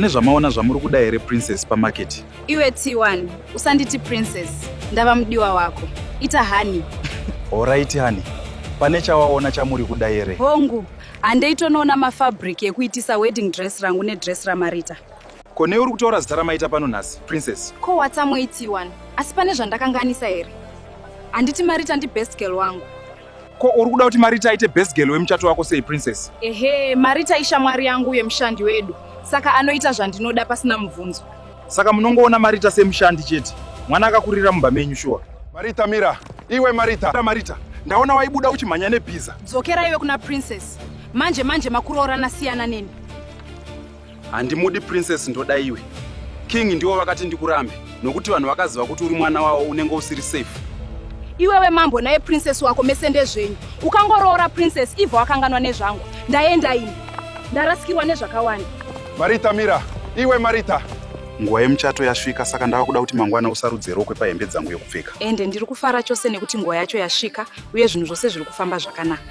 Mune zvamaona zvamuri kuda here princess pamarket? Iwe T1, usanditi princess, ndava mudiwa wako. Ita honey. Horaiti honey. Pane chawaona chamuri kuda here? Hongu, handei tonoona mafabric ekuitisa wedding dress rangu nedress raMarita. Ko nei uri kutaura zita ramaita pano nhasi, princess? Ko watsamwei T1? Asi pane zvandakanganisa here? Handiti Marita ndibest girl wangu. Ko uri kuda kuti Marita aite best girl wemuchato wako sei princess? Ehe, Marita ishamwari yangu uye mushandi wedu. Saka anoita zvandinoda pasina mubvunzo. Saka munongoona Marita semushandi chete. Mwana akakurira mumba menyu shuwa. Marita mira, iwe Marita. Mira Marita, ndaona waibuda uchimhanya nebhiza. Dzokera iwe kuna princess. Manje manje makuroorana siyana neni. handimudi princess ndoda iwe king ndiwo vakati ndikurambe nokuti vanhu vakaziva kuti uri mwana wavo unenge usiri safe iwewe mambo naye princess wako mese ndezvenyu ukangoroora princess ivo wakanganwa nezvangu ndaenda ini ndarasikirwa nezvakawanda marita mira iwe marita nguva yemuchato yasvika saka ndava kuda kuti mangwana usarudze rokwe pahembe dzangu yokupfeka ende ndiri kufara chose nekuti nguva yacho yasvika uye zvinhu zvose zviri kufamba zvakanaka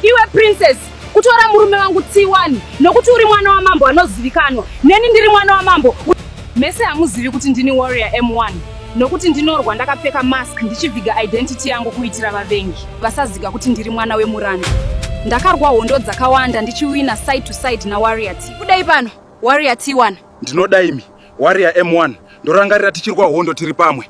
iwe princess kutora murume wangu tsiwani nokuti uri mwana wamambo anozivikanwa neni ndiri mwana wamambo mese hamuzivi kuti ndini warrior m1 nokuti ndinorwa ndakapfeka mask ndichiviga identity yangu kuitira vavengi vasaziga kuti ndiri mwana wemuranda ndakarwa hondo dzakawanda ndichiwina side to side nawarrior t kudai pano warrior t1 ndinoda imi warrior m1 ndorangarira tichirwa hondo tiri pamwe